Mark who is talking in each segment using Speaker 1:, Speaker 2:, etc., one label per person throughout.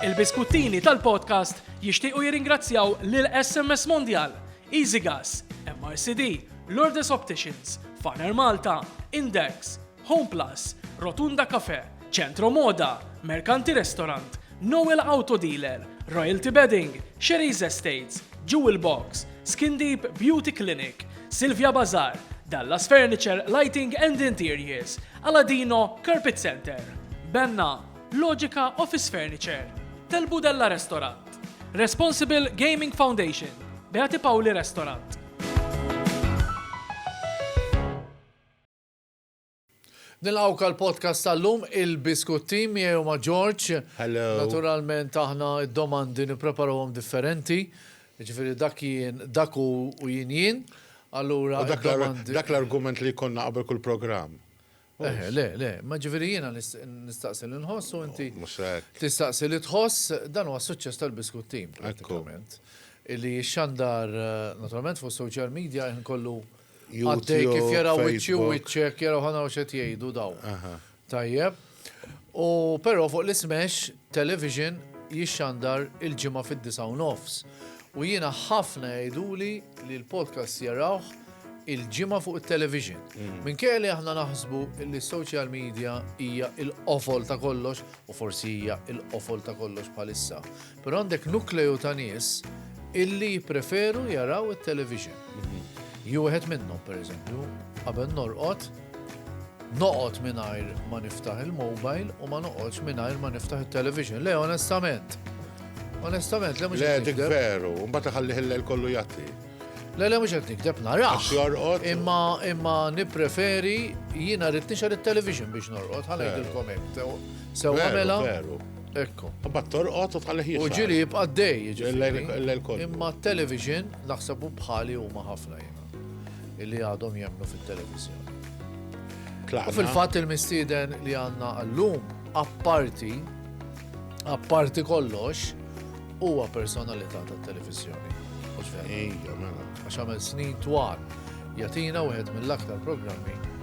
Speaker 1: Il-biskuttini tal-podcast jixtiequ jirringrazzjaw lil SMS Mondial, EasyGas, MRCD, Lourdes Opticians, Faner Malta, Index, Home Plus, Rotunda Cafe, Centro Moda, Mercanti Restaurant, Noel Auto Dealer, Royalty Bedding, Sherry's Estates, Jewel Box, Skin Deep Beauty Clinic, Silvia Bazar, Dallas Furniture Lighting and Interiors, Aladino Carpet Center, Benna, Logica Office Furniture, Tel Budella Restaurant, Responsible Gaming Foundation, Beati Pauli Restaurant.
Speaker 2: Nilqawk għal podcast tal-lum il-Biskut Team jew ma' George. Hello. Naturalment
Speaker 3: aħna
Speaker 2: d-domandi nippreparawhom differenti. Ġifieri dak jien dak u jien jien. Allura dak
Speaker 3: l-argument li konna qabel kull programm. Eħe, le, le,
Speaker 2: ma ġifieri jiena nistaqsi li nħoss u inti tistaqsi
Speaker 3: li tħoss
Speaker 2: dan huwa suċċess tal-Biskut Team pratikament. Illi xandar naturalment fuq social media jħin kollu għaddej kif jaraw wiċċi u wiċċek jaraw ħana u xed jgħidu daw. Tajjeb. U però fuq l-ismex Television jixxandar il-Ġimgħa fid-disgħa u nofs u jiena ħafna jgħiduli li l-podcast jarawh il-Ġimgħa fuq it-television. Minkejja li aħna naħsbu li s-social media hija l-qofol ta' kollox, u forsi hija l-qofol ta' kollox bħalissa, però għandek nukleju ta' nies illi jippreferu jaraw it-television. Jien wieħed minnhom, pereżempju, qabel norqod, Noqgħod mingħajr ma niftaħ il-mobile u ma noqgħodx mingħajr ma niftaħ it-television. Le, onestament. Onestament, le mhux Le, dik veru,
Speaker 3: mbagħad iħallih il-lejl kollu jatti. Le, le mhux qed
Speaker 2: nikdeb narax. Għax jorqod. Imma
Speaker 3: imma
Speaker 2: nippreferi jiena rrid nixgħel it-television biex norqod, ħalli jidilkom hekk. Sew għamela. Veru. Ekku.
Speaker 3: Mbagħad
Speaker 2: torqod u
Speaker 3: tħallih jixgħel. U ġieli jibqa' dej,
Speaker 2: jiġifieri.
Speaker 3: Imma t-television
Speaker 2: naħseb bħali huma ħafna jiena. li għadhom jemnu fit-televiżjoni. U fil-fatt il-mistieden li għandna għallum, apparti, apparti kollox, huwa personalità tat-televiżjoni. Ija, mela. Għax
Speaker 3: għamel snin
Speaker 2: twal, jatina wieħed mill-aktar programmi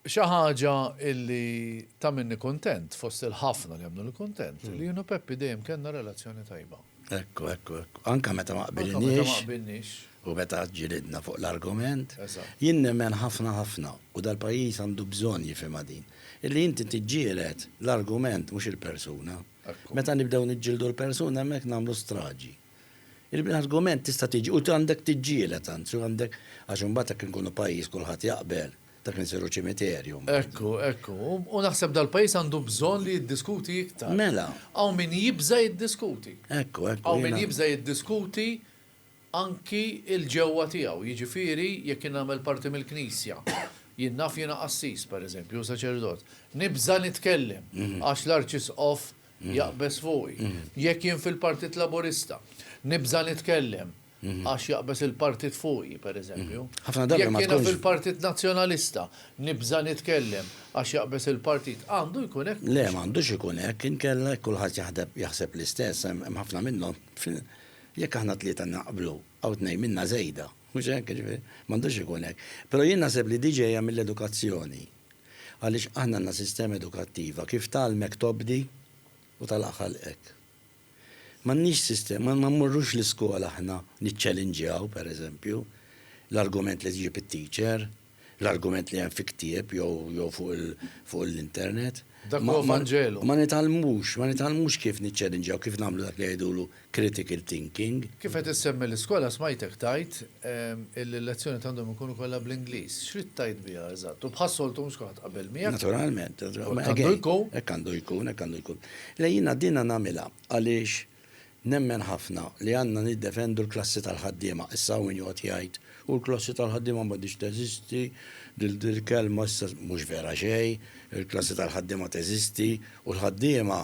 Speaker 2: Xi ħaġa illi tagħmilni kuntent fost il-ħafna li għamluni kuntent, li jien u Peppi dejjem kellna relazzjoni tajba. Ekku, ekku, ekku.
Speaker 4: Anke meta ma qbilniex. U
Speaker 2: meta
Speaker 4: ġilidna fuq l-argument. Jien nemmen
Speaker 2: ħafna
Speaker 4: ħafna, u dal-pajjiż għandu bżonn jifhimha din, illi inti tiġġieled l-argument mhux il-persuna. Meta nibdew
Speaker 2: niġġieldu
Speaker 4: l-persuna hemmhekk nagħmlu straġi. Il-argument tista' tiġi u għandek tiġġieled anzi u għandek għax imbagħad jekk inkunu pajjiż kulħadd jaqbel dak li nsiru ċimiterju mbagħad. Ekku, ekku.
Speaker 2: U naħseb dal-pajjiż għandu bżonn li jiddiskuti iktar. Mela. Hawn min
Speaker 4: jibża'
Speaker 2: jiddiskuti. Ekku, ekku. Hawn min
Speaker 4: jibża'
Speaker 2: jiddiskuti anki l-ġewwa tiegħu, jiġifieri jekk jien nagħmel parti mill-Knisja. Jien naf jiena qassis, pereżempju, u saċerdot. Nibża' nitkellem għax l-arċisqof, Mm. Jaqbes fuqi. Mm. Jekk jien fil-Partit Laburista, nibża nitkellem, mm-hmm. għax jaqbes il-partit fuqi, per eżempju. Mm-hmm. Ħafna darba ma tkunx.
Speaker 4: fil-Partit Nazzjonalista,
Speaker 2: nibża nitkellem, għax jaqbes il-partit. Għandu jkun hekk. Le, m'għandux ikun hekk,
Speaker 4: inkella kulħadd jaħdeb jaħseb l-istess, hemm ħafna minnhom. Jekk aħna tlieta naqblu, għaw tnej minna żejda, mhux hekk, m'għandux ikun hekk. Però jien naħseb li diġejja mill-edukazzjoni Għaliex aħna għandna sistema edukattiva kif tgħallmek tobdi u tagħlaq ħalqek. M'għandniex sistema, ma mmorrux l-iskola aħna niċċelinġjaw, per eżempju, l-argument li tġib it-teacher, l-argument li hemm fi ktieb jew jew fuq il fuq l-internet. Dak huwa vanġelu.
Speaker 2: Ma nitgħallmux,
Speaker 4: ma nitgħallmux kif niċċelinġjaw, kif nagħmlu dak li jgħidulu critical thinking. Kif qed issemmi
Speaker 2: l-iskola smajtek tgħid illi l-lezzjonijiet għandhom ikunu kollha bl-Ingliż. X'ridt tgħid biha eżatt? U bħas-soltu mhux kulħadd qabel miegħek. Naturalment. Hekk
Speaker 4: għandu jkun. Hekk
Speaker 2: għandu jkun, hekk għandu jkun. Le
Speaker 4: jiena dinha nagħmilha għaliex nemmen ħafna li għandna niddefendu l-klassi tal-ħaddiema. Issa hawn min joqgħod jgħid, u l-klassi tal-ħaddiema m'għadhiex teżisti, dil-kelma issa mhux vera xejn, il-klassi tal-ħaddiema teżisti u l-ħaddiema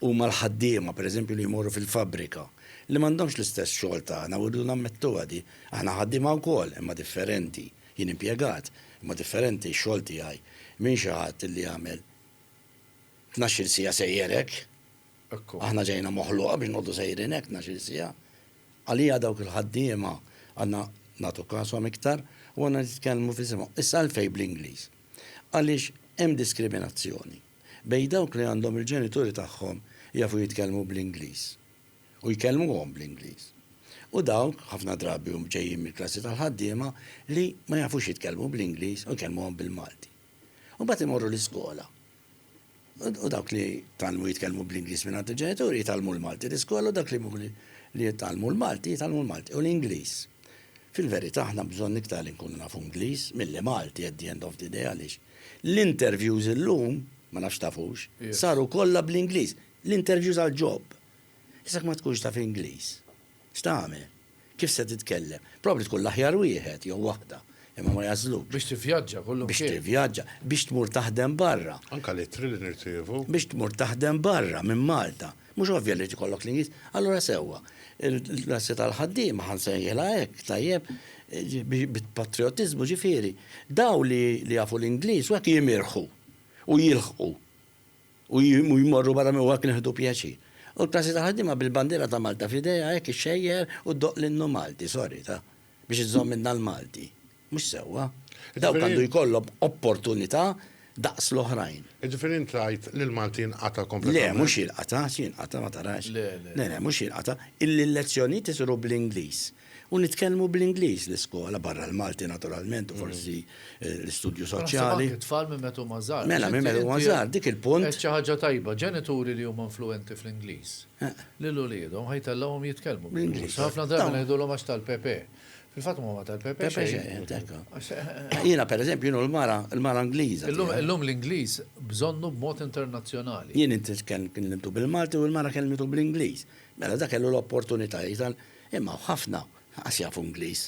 Speaker 4: Huma l-ħaddiema, pereżempju, li jmorru fil-fabbrika, li m'għandhomx l-istess xogħol tagħna u rridu nammettuha di. Aħna ħaddiema wkoll, imma differenti. Jien impjegat, imma differenti x-xogħol tiegħi minn xi ħadd illi jagħmel tnax-il siegħa sejjer hekk. Aħna ġejna moħluqa biex noqogħdu sejrin hekk tnax-il siegħa. Għalija dawk il-ħaddiema għandna nagħtu kashom iktar u għandna nitkellmu f'isimhom. Issa għalfejn bl-Ingliż? Għaliex hemm diskriminazzjoni. bejn dawk li għandhom il-ġenituri tagħhom jafu jitkellmu bl-Ingliż u jkellmuhom bl-Ingliż u dawk, ħafna drabi hum ġejjin mill-klassi tal-ħaddiema, li ma jafux jitkellmu bl-Ingliż u jkellmuhom bil-Malti. U mbagħad imorru l-iskola. U dawk li tgħallmu jitkellmu bl-Ingliż mingħand il-ġenituri jitgħallmu l-Malti l-iskola u dak li mhux li jitgħallmu l-Malti jitgħallmu l-Malti u l-Ingliż. Fil-verità aħna bżonn iktar li nkunu nafu Ingliż milli Malti at the end of the day għaliex L-interviews illum, ma nafx tafux, saru kollha bl-Ingliż. L-interviews għal job. Issa jekk ma tkunx taf Ingliż, x'tagħmel? Kif se titkellem? Probabbli tkun l-aħjar wieħed jew waħda, imma ma jagħżlukx. Biex tivvjaġġa kollu mkien.
Speaker 2: Biex tivvjaġġa,
Speaker 4: biex tmur taħdem barra. Anke l-ittri li
Speaker 3: nirċievu. Biex tmur taħdem
Speaker 4: barra minn Malta. Mhux ovvja li jrid ikollok l-Ingliż? Allura sewwa, il-klassi tal-ħaddiema ħa nsejħilha hekk, tajjeb, bit-patrijotiżmu ġifieri, dawn li jafu l-Ingliż u hekk jimirħu u jilħqu u jmorru barra minn u hekk nieħdu pjaċir. U l-klassi tal-ħaddiema bil-bandiera ta' Malta f'idejha hekk ixxejjer u ddoqq l-innu Malti, sorry, ta, biex iżżomm minnha l-Malti. Mhux sewwa. Dawk għandu jkollhom opportunità daqs l-oħrajn. Jiġifieri int tgħid
Speaker 3: li l-Malti jinqata' kompletament? Le, mhux jinqata',
Speaker 4: x'jinqata' ma tarax. Le, le. Le, le, mhux jinqata'. Il-lezzjonijiet isiru bl-Ingliż. U nitkellmu bl-Ingliż l-iskola, barra l-Malti naturalment u forsi l-istudju soċjali. Anke t-tfal minn meta huma
Speaker 2: żgħar. Mela, minn meta huma żgħar,
Speaker 4: dik il-punt. Għedt xi ħaġa tajba,
Speaker 2: ġenituri li huma influwenti fl-Ingliż lil uliedhom ħa jtellgħuhom jitkellmu bl-Ingliż. Ħafna drabi ngħidulhom għax tal-Pepe. Fil-fatt ma tal Pepe
Speaker 4: Jiena per eżempju jienu l-mara, l-mara Ingliża. Illum l-Ingliż
Speaker 2: bżonnu b'mod internazzjonali. Jien inti
Speaker 4: kellimtu bil-Malti u l-mara kellimtu bl-Ingliż. Mela dak kellu l-opportunità jgħid imma ħafna ħaqqas jafu Ingliż.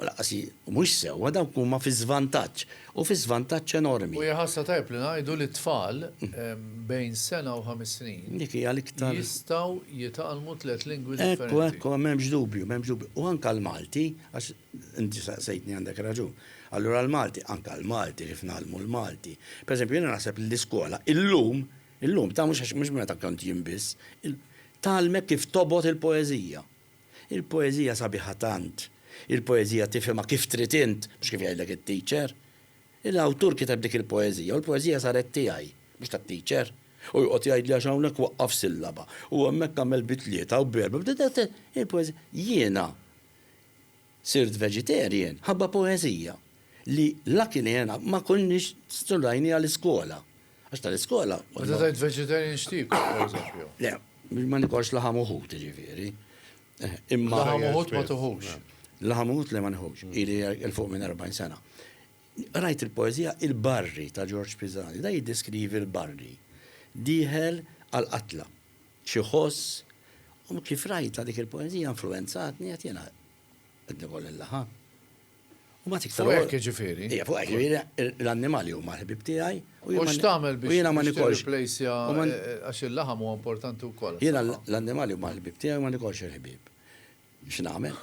Speaker 4: U laqqas mhux sewwa dawk huma fi żvantaġġ. Hu fi żvantaġġ enormi. U hija ħasra tajjeb li
Speaker 2: ngħidu li t-tfal bejn sena u ħames snin jistgħu
Speaker 4: jitgħallmu
Speaker 2: tliet lingwi differenti. Ekku, ekku, m'hemmx dubju,
Speaker 4: m'hemmx dubju. U anke l-Malti, għax inti saqsejtni għandek raġun. Allura l-Malti, anke l-Malti kif ngħallmu l-Malti. Pereżempju jiena naħseb li l-iskola illum, illum, ta' mhux meta kont jien biss, tgħallmek kif tobgħod il-poeżija. Il-poeżija sabiħa tant. Il-poeżija tifhimha kif trid int, mhux kif jgħidlek it-teacher. Il-awtur kiteb dik il-poeżija u l-poeżija saret tiegħi, mhux tat-teacher. U joqgħod jgħidli għax hawnhekk waqqaf sillaba, u hemmhekk għamel bi tlieta u b'erbgħa, il-poeżija. Jiena Sirt vegetarian ħabba poeżija li la kinena ma konniex studajniha l-iskola. Għax tal-iskola. Meta tgħid vegetarian
Speaker 2: x'tiekol pereżempju? Le, ma
Speaker 4: nikolx laħam u ħut jiġifieri. Imma. Laħam u ħut ma
Speaker 2: tuħux. Laħam u ħut le ma
Speaker 4: nieħux. Ili 'l fuq minn 40 sena. Qrajt il-poeżija Il-Barri ta' Ġorġ Pisani. Dan jiddeskrivi l-barri dieħel għall-qatla. Xi ħoss? U kif rajtha dik il-poeżija influwenzatni qed jiena qed nigol nilħa. U mbagħad iktar. Fuq hekk jiġifieri? Ija, fuq
Speaker 2: hekk jiġifieri
Speaker 4: l-annimali huma l-ħbieb tiegħi u jiena. U x'tagħmel biex
Speaker 2: jiena ma nikolx. Tirriplejsja għax il-laħam huwa importanti wkoll. Jiena l-annimali huma
Speaker 4: l-ħbieb tiegħi u ma nikolx il-ħbieb. X'nagħmel?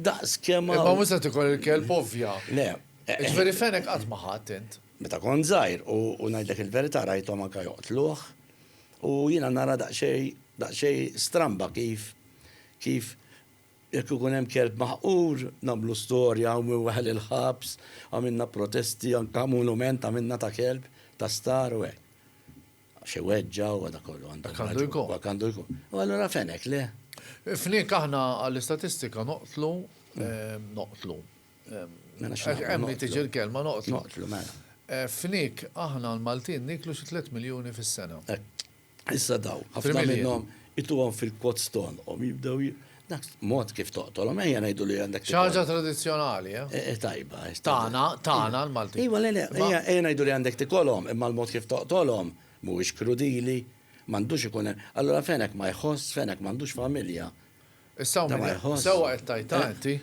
Speaker 4: Daqs kemm. Ma mhux se tikol il-kelb
Speaker 2: ovvja. Le.
Speaker 4: Ġifieri fenek
Speaker 2: qatt ma ħadd int. Meta kont żgħir
Speaker 4: u ngħidlek il-verità rajthom anke joqtluh u jiena nara daqsxejn daqsxejn stramba kif kif jekk ikun hemm kelb maħqur nagħmlu storja hawn min weħel il-ħabs, għamilna protesti anke monument għamilna ta' kelb ta' star u hekk. Xi weġġa u għada kollu għandu. Għandu jkun. Għandu jkun. U għallura fenek le? Fnik aħna
Speaker 2: għall-istatistika noqtlu, mm. noqtlu. Mela Hemm li tiġi l-kelma noqtlu. Noqtlu, mela. Eh,
Speaker 4: fnik
Speaker 2: aħna l-Maltin niklu xi 3 miljoni fis-sena. Eh, issa
Speaker 4: daw, ħafna minnhom ituhom fil-pot stonhom jibdew Dak mod kif toqtolhom, ejja ngħidu li għandek. Ċaġa tradizzjonali,
Speaker 2: eh? eh? eh tajba. Eh,
Speaker 4: tana, tana
Speaker 2: l-Malti. Iwa, le, le, ejja
Speaker 4: ngħidu li għandek tikolhom, imma l-mod kif toqtolhom mhuwiex krudili, m'għandux ikun. Allura fenek ma jħoss, fenek m'għandux familja. Issa u
Speaker 2: minn sewa qed tajta eh. inti,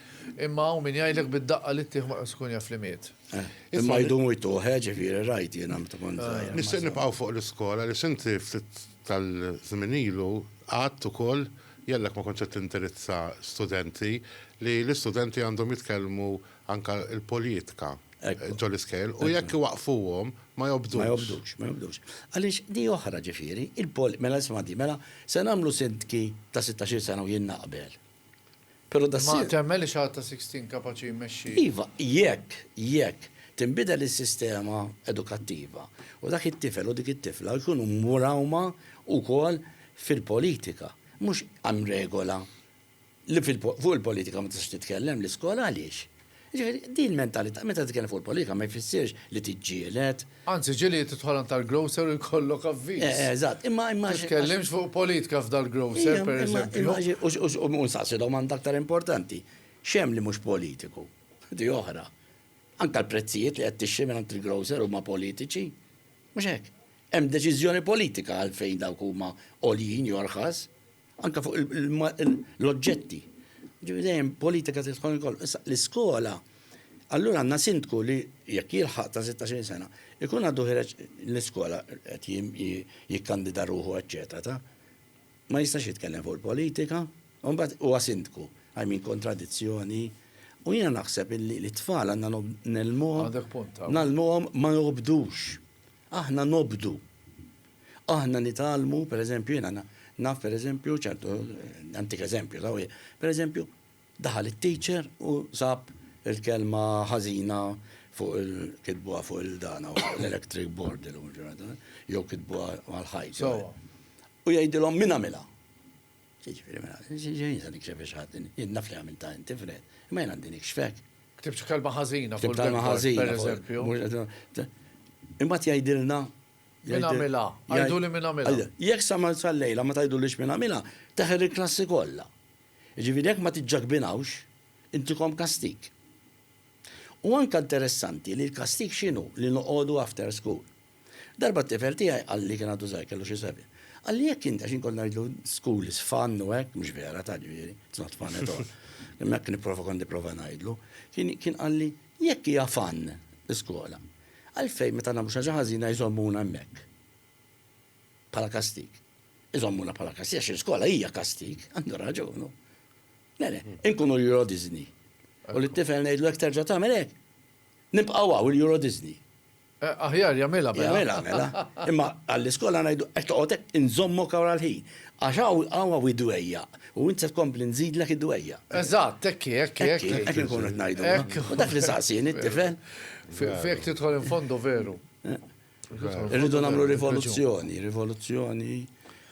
Speaker 2: imma u minn jgħidlek bid-daqqa li tieħ ma tkun jaf li miet. Eh. Imma jdumu
Speaker 4: jtuħ, eh, ġifieri rajt jiena meta kont. Nixtieq nibqgħu fuq
Speaker 3: l-iskola li sinti ftit tal-żmien ilu għadt ukoll, jellek ma kontx qed tindirizza studenti, li l-istudenti għandhom jitkellmu anke l-politika ġol-iskejjel u jekk iwaqqfuhom ma jobdux. Ma jobdux, ma jobdux.
Speaker 4: Għaliex di oħra ġifieri, mela isma' di, mela se nagħmlu sindki ta' sittax-il sena u jien naqbel. Pero da ssir. Ma temmenx li għad ta'
Speaker 2: Sixteen kapaċi jmexxi. Iva, jekk,
Speaker 4: jekk, tinbidel is-sistema edukattiva u dak it-tifel u dik it-tifla jkunu mwrawma wkoll fil-politika. Mhux hemm regola li fuq il-politika ma tistax titkellem l-iskola għaliex? Jiġifieri, din l-mentalità, meta titkellem fuq il-politika ma jfissirx li tiġġieled. Anzi, ġieli titħol
Speaker 2: għand tal-grocer u jkollok avviż. Eh, eżatt, imma imma. Ma
Speaker 4: titkellimx fuq
Speaker 2: politika f'dal-grocer, pereżempju. U nsaqsi
Speaker 4: domanda aktar importanti, x'hemm li mhux politiku? Di oħra. Anke l-prezzijiet li qed tixtri mingħand il-grocer huma politiċi. Mhux hekk? Hemm deċiżjoni politika għalfejn dawk huma għoljin jew rħas. Anke fuq l-oġġetti. Ġifieri dejjem politika trid tkun ikollha. Issa l-iskola allura għandna sindku li jekk jilħaq ta' 16 sena, ikun għadu ħireġ l-iskola qed jikkandida ruħu eċċetera ta' ma jistax jitkellem fuq il-politika, u mbagħad huwa sindku. I mean kontradizzjoni. U jiena naħseb illi l-tfal għandna nelmuhom, nagħlmuhom ma nobdux. Aħna nobdu. Aħna nitgħallmu, per eżempju, jiena naf per eżempju ċertu, nantik eżempju, taf, per eżempju, daħal it-teacher u sab il-kelma ħażina fuq il, kitbuha fuq il-dan hawn, fuq l-electric board illum il-ġurnata, jew kitbuha mal-ħajt. Sewwa. U jgħidilhom min għamilha. Jiġifieri mela, ġejjin se nikxef biex ħadd, jien naf li għamiltha inti Fred, imma jien għandi nikxfek. Ktibt kelma
Speaker 2: ħażina fuq il-kelma ħażina,
Speaker 4: per eżempju.
Speaker 2: Imbagħad
Speaker 4: jgħidilna
Speaker 2: Min għamilha? Għiduli min għamilha. Jekk sa ma sal-lejla
Speaker 4: ma tgħidulix min għamilha, teħel il-klassi kollha. Jiġifieri jekk ma tiġġakbinawx, intikom kastig. U anke interessanti li l-kastig x'inhu li noqogħdu after school. Darba t-tifel tiegħi qalli kien għadu żgħir kellu xi sebgħin. Qalli jekk int għax inkun ngħidlu school is fun u hekk mhux vera ta' ġifieri, it's not fun at all. Imma hekk nipprova kont nipprova ngħidlu. Kien qalli Jekk hija fun l-iskola, għalfejn meta nagħmlu xi ħaġa ħażina jżommuna hemmhekk bħala kastig? Iżommuna bħala kastig għax l-iskola hija kastig, għandu raġun hu. Le, le, inkunu l-Euro Disney. U lit-tifel ngħidlu jekk terġa' tagħmel hekk, nibqgħu hawn il-Euro Disney. Aħjar
Speaker 2: jagħmilha mela. Jagħmilha mela.
Speaker 4: Imma għall-iskola ngħidu qed toqgħod hekk inżommok hawn għall-ħin. Għax hawn hawn idwejjaq u int se tkompli nżidlek idwejjaq. Eżatt, hekk hi, hekk hi, hekk hi. Hekk inkunu qed ngħidu. Hekk. U dak li saqsieni t-tifel. Fejn
Speaker 2: tidħol in fondo veru.
Speaker 4: Irridu nagħmlu rivoluzzjoni, rivoluzzjoni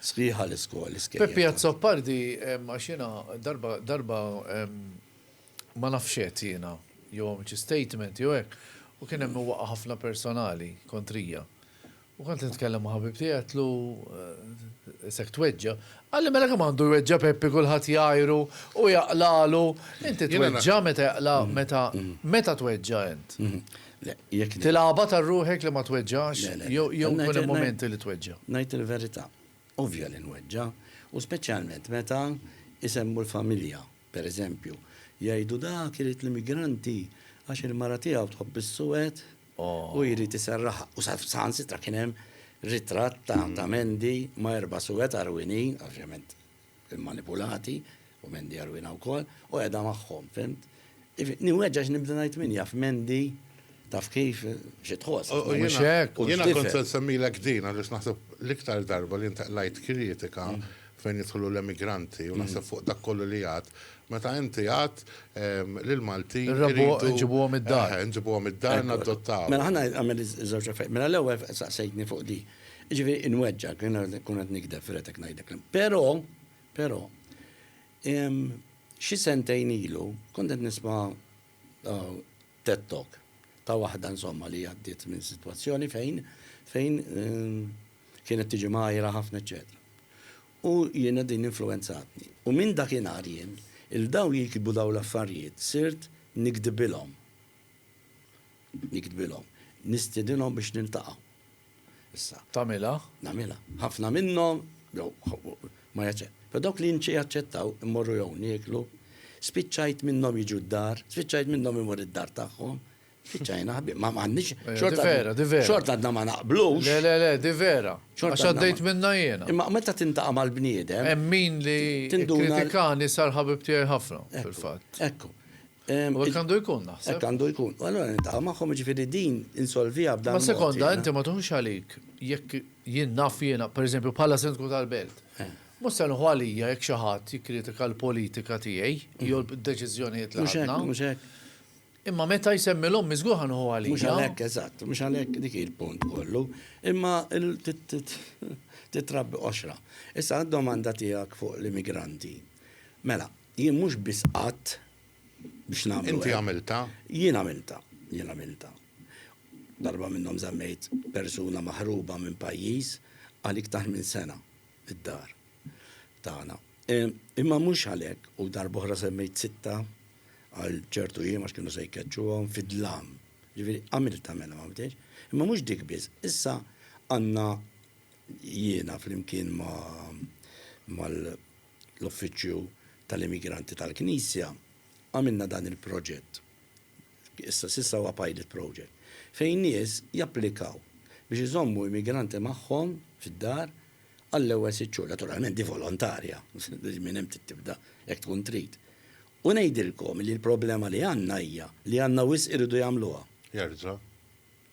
Speaker 4: sħiħa l-iskol. Peppi Azzopardi
Speaker 2: għax jiena darba darba ma nafx x'għedt jiena, jew għamilt xi statement jew hekk, u kien hemm min waqqa' ħafna personali kontrija. U kont qed nitkellem ma' ħabib tiegħi għedtlu, Isek tweġġa'? Qalli, Mela kemm għandu jweġġa' Peppi kulħadd jgħajru u jaqlagħlu, inti tweġġa' meta jaqla' meta meta tweġġa' int? Tilgħabha ta' ruħek li ma tweġġax jew ikun hemm mumenti li tweġġa'? Ngħid il-verità,
Speaker 4: ovvja li nweġġa', u speċjalment meta jsemmu l-familja. Per eżempju, jgħidu dak irid l-immigranti għax il-mara tiegħu tħobb is-suwed u jrid iserraħha. U saħansitra kien hemm ritratt ta' Mandy ma' erba' suwed għarwinin, ovvjament immanipulati, u Mandy għarwina wkoll, u qiegħda magħhom, fimt? Niweġġa' għax nibda ngħid min jaf Mandy Taf kif? Xi tħoss? U Mhux jiena- hekk? u Jiena x'tifhem?
Speaker 3: kont se nsemmilek din għaliex naħseb l-iktar darba li inti qlajt kritika fejn jidħlu l-emigranti u naħseb fuq dak kollu li għadt, meta inti għadt ehm, li l-Maltin Irrabbu- iridu- nġibuhom
Speaker 2: id-dar. Eħe, nġibuhom id-dar Mela
Speaker 3: naddottawhom. ħa nagħmel
Speaker 4: iż-żewġ affarijiet. Mela l-ewwel saqsejtni fuq di. Jiġifieri inweġġgħek, jiena nkun qed nikdeb fil-qed ngħidlek. l- Però, però, em, xi sentejn ilu kont qed nisma' Ted Talk ta' waħda insomma li għaddiet minn sitwazzjoni fejn fejn kienet tiġi mgħajra ħafna eċċetera. U jiena din influwenzatni. U minn dakinhar jien, 'il dawn li jiktbu dawn l-affarijiet sirt niktbilhom. Niktbilhom. Nistiedinhom biex niltaqgħu. Issa. Tagħmilha?
Speaker 2: Nagħmilha. Ħafna
Speaker 4: minnhom, jew, ma jaċċe. Pero dawk li nċe jaċċettaw, immorru jew nieklu, spiċċajt minnhom jiġu d-dar, spiċċajt minnhom imur id-dar tagħhom, spiċċajna ħabib. Ma m'għandniex. Eh, xorta vera, di vera.
Speaker 2: Xorta għadna ma naqblux.
Speaker 4: Le, le, le, di vera.
Speaker 2: Xorta għaddejt minna jiena. Imma meta tintaqa'
Speaker 4: mal-bniedem. Hemm min li
Speaker 2: kritikani sar ħabib tiegħi ħafna, fil-fatt. Ekku.
Speaker 4: U hekk għandu
Speaker 2: jkun naħseb. Hekk għandu jkun. Allora
Speaker 4: niltaqa' magħhom ġifieri din insolviha b'dan. Ma sekonda inti ma tuħux
Speaker 2: għalik jekk jien naf jiena, pereżempju bħala sindku tal-belt. Eh. Mhux se nħu għalija jekk xi ħadd jikkritika l-politika tiegħi mm. jew d-deċiżjonijiet li ħadna. Mhux hekk.
Speaker 4: Imma meta
Speaker 2: jsemmi l-ommi żgur ħanħu għalija. Mhux għalhekk eżatt, mhux
Speaker 4: għalhekk dik il-punt kollu. Imma titrabbi qoxra. Issa domanda tiegħek fuq l-immigranti. Mela, Jien mhux biss għadt biex nagħmlu hekk. Inti għamiltha.
Speaker 3: Jien għamiltha.
Speaker 4: Jien għamiltha. Darba minnhom żammejt persuna maħruba minn pajjiż għal iktar minn sena fid-dar tagħna. Imma mhux għalhekk u darba oħra żammejt sitta għal ċertu jiem għax kienu se jkeċċuhom fid-dlam. Ġifieri għamiltha mela m'għamiltiex. Imma mhux dik biss. Issa għandna jiena flimkien ma' l-Uffiċċju tal-Immigranti tal-Knisja għamilna dan il-proġett, issa s'issa huwa pilot project, fejn nies japplikaw biex iżommu immigranti magħhom fid-dar għall-ewwel sitt xhur. Naturalment di volontarja, minn hemm trid tibda jekk tkun trid. U ngħidilkom li l-problema li għandna hija li għandna wisq iridu jagħmluha. Jerġa'.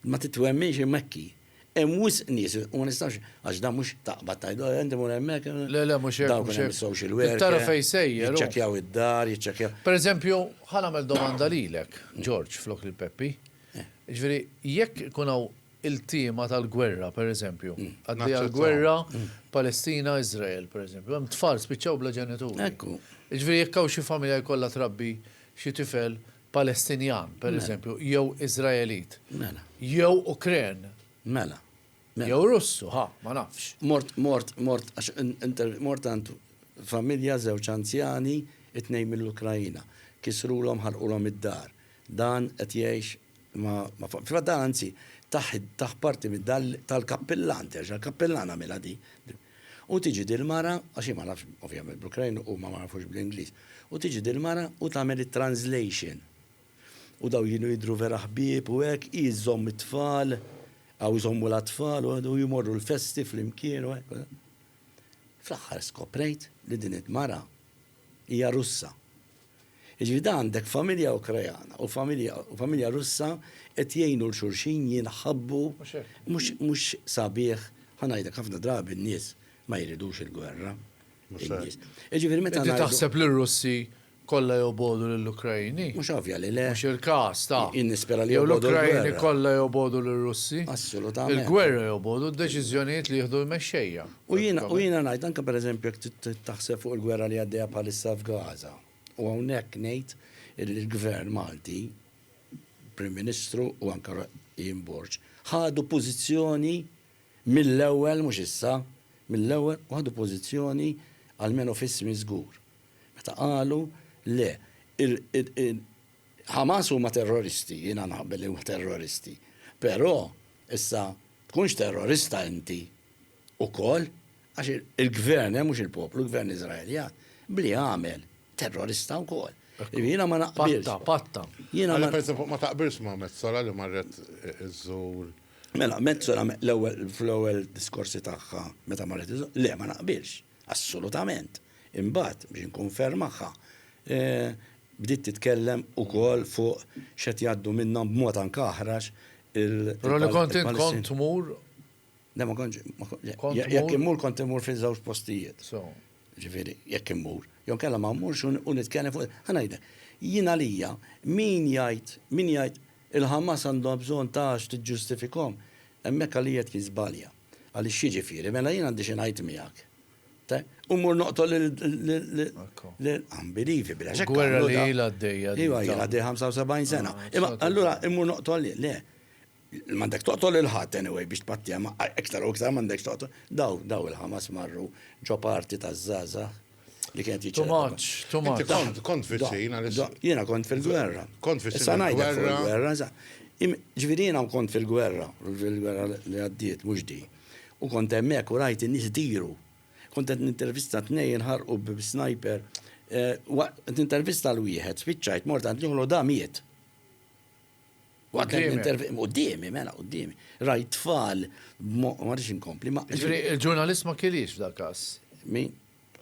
Speaker 3: Ma
Speaker 4: titwemminx imma hekk hi. Hemm wisq nies u ma nistgħux għax dan mhux taqbad tgħid oh inti mur hemmhekk. Le le mhux hekk. Dawk mhux
Speaker 2: hekk. Social worker. Trid
Speaker 4: tara fejn sejjer hu.
Speaker 2: Jiċċekkjaw id-dar,
Speaker 4: jiċċekkjaw. Per eżempju, ħa
Speaker 2: nagħmel domanda lilek, George, flok lil Peppi. Jiġifieri, jekk ikun hawn iltiema tal-gwerra, per eżempju, għaddejja l-gwerra Palestina, Iżrael, per eżempju, hemm tfal spiċċaw bla ġenituri. Hekk hu. Jiġifieri
Speaker 4: jekk hawn xi
Speaker 2: familja jkollha trabbi xi tifel, Palestinjan, per eżempju, jew Iżraelit. Mela. Jew
Speaker 4: Ukren.
Speaker 2: Mela.
Speaker 4: Mela. Jew
Speaker 2: Russu, ha, ma nafx. Mort, mort, mort, għax
Speaker 4: mort għand familja żewġ anzjani, it-tnejn mill-Ukrajina. Kisrulhom, ħarqulhom id-dar. Dan qed jgħix ma, ma, fil-fatt dan anzi, taħ, taħ parti mid-dar tal-kappillan, terġa' l-kappillan għamilha di. U tiġi dil-mara, għax jien ma nafx ovvjament bl-Ukrain u huma ma jafux bl-Ingliż, u tiġi dil-mara u tagħmel it-translation. U dawn kienu jidhru vera ħbieb u hekk, hi żżomm it-tfal, aw iżommu l-atfal u u jmorru l-festi flimkien u hekk. Fl-aħħar skoprejt li din il-mara hija Russa. Jiġifieri da għandek familja Ukrajana u familja u familja Russa qed jgħinu 'l xulxin jinħabbu. Mhux hekk. Mhux mhux sabiħ, ħa ngħidlek ħafna drabi n-nies ma jridux il-gwerra. Mhux hekk. In-nies. Jiġifieri meta ngħidu. Inti taħseb li r-Russi
Speaker 2: kollha jobogħdu lill-Ukraini? Mhux ovvja li le. Mhux
Speaker 4: il-każ, ta.
Speaker 2: Jien nispera li jobogħdu l-gwerra.
Speaker 4: Jew l-Ukraini kollha
Speaker 2: jobogħdu lir-Russi? Assolutament. Il-gwerra
Speaker 4: jobogħdu
Speaker 2: d-deċiżjonijiet li jieħdu l-mexxejja. U jiena u jiena
Speaker 4: ngħid anke pereżempju jekk taħseb fuq il-gwerra li għaddejja bħalissa f'Gaza. U hawnhekk ngħid illi l-Gvern Malti, Prim Ministru u anke Ian Borg, ħadu pożizzjoni mill-ewwel, mhux issa, mill-ewwel u ħadu pożizzjoni almenu f'ismi żgur. Meta qalu, le, Hamas huma terroristi, jiena naqbel li huma terroristi, però issa tkunx terrorista inti ukoll għax il-gvern hemm mhux il-poplu, il-gvern Iżraeljan, b'li għamel, terrorista wkoll. Jiġifieri jiena ma naqbilx. Patta, patta. Jiena
Speaker 2: ma naqbilx.
Speaker 3: Ma taqbilx ma' Mezzola li marret iżżur. Mela, Mezzola
Speaker 4: l-ewwel fl-ewwel diskorsi tagħha meta marret iżżur, le ma naqbilx, assolutament. Imbagħad biex inkun ferm magħha, Bdiet titkellem ukoll fuq x'qed jgħaddu minnhom b'mod anke aħrax
Speaker 2: il-Palestinjani. Le ma
Speaker 4: kontx, jekk immur kont immur fi żewġ postijiet. Ġifieri, jekk immur. Jew inkella ma mmurx u nitkellem fuq, ħa ngħidlek, jien għalija min jgħid, min jgħid il-Ħamas għandhom bżonn ta' għax tiġġustifikhom, hemmhekk għalija tkun żbalja. Għaliex x'jiġifieri? Mela jien għandi xi ngħid miegħek. U mur noqtol l-unbelievable. Gwerra li jila
Speaker 2: d-dejja. Iwa jila d-dejja 75
Speaker 4: sena. Ah, Imma allura immur noqtol li, le. Mandek toqtol il-ħat anyway biex tpattija ma iktar u iktar mandek toqtol. Daw, daw il-ħamas marru ġo parti ta' zaza li kienet jiċċa. Tumaċ, tumaċ.
Speaker 2: Kont fil-sin għalissa.
Speaker 3: Jena kont
Speaker 4: fil-gwerra. Kont fil-sin. Sanajda
Speaker 3: fil-gwerra.
Speaker 4: Ġvirina kont fil-gwerra, fil-gwerra li għaddiet, mux di. U kont hemmhekk u rajt in-nies idiru. Kont qed nintervista tnejn inħarqu b'snajper. Qed nintervista l wieħed, spiċċajt mort għand nieħlu da miet. Qudiemi, mela, qudiemi. Rajt tfal, ma rridx inkompli. Il-ġurnalist ma
Speaker 2: kienx f'dal każ. Min?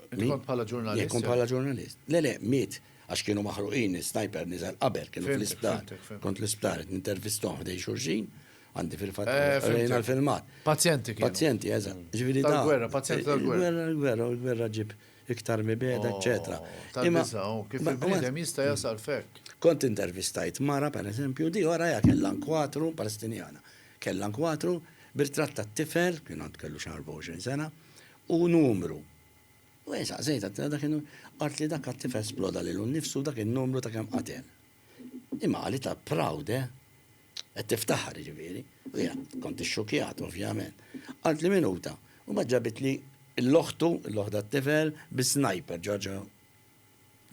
Speaker 4: Inti kont bħala
Speaker 2: ġurnalist? Jien kont bħala ġurnalist.
Speaker 4: Le, le, miet, għax kienu maħruqin, sniper niżel qabel, kienu fl-isptar. Kont l-isptar, nintervistom ħdej xurxin, għandi fil-fat, eh, rejna l-filmat. Pazjenti kienu. Pazjenti,
Speaker 2: eżat. Mm. Ġviri
Speaker 4: da. Gwerra, pazjenti
Speaker 2: tal gwerra. Gwerra, gwerra, gwerra ġib
Speaker 4: iktar mibeda, oh, eccetera. Imma, oh,
Speaker 2: kif il-bnidem jista jasal fekk. Kont intervistajt
Speaker 4: mara, per eżempju, di għara ja kellan kwatru, palestinjana, kellan kwatru, birtratta t-tifel, kien għand kellu xar 24 sena, u numru. U jien saqsejt, għedtilha dak in-numru. Qalt li dak għat-tifel sploda lilu nnifsu dak in-numru ta' kemm qatel. Imma qalilha proud, eh? Qed tiftaħar, jiġifieri. U jiena kont ixxukkjat, ovvjament. Qalt li minuta, u mbagħad ġabitli 'l oħtu, 'l oħt għat-tifel, bis-snajper, ġorġa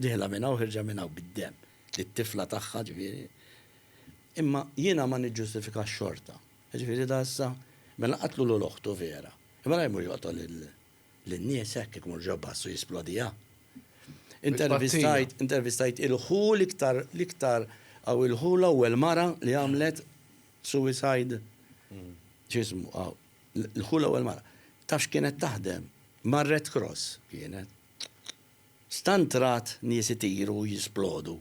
Speaker 4: dieħla minn hawn ħirġa minn hawn bid-demm, lit-tifla tagħha, jiġifieri. Imma jiena ma niġġustifikax xorta. Jiġifieri da issa, mela qatlu lul oħtu vera. Imma la jmur joqtol lin-nies hekk jekk imur ġo bus u jisplodiha. Intervistajt, intervistajt il-ħu l-iktar, l-iktar, hawn il-ħu l-ewwel mara li għamlet suicide, x'ismu hawn, l-ħu l-ewwel mara. Taf x'kienet taħdem? Mar-Red Cross kienet. Stant rat nies itiru u jisplodu.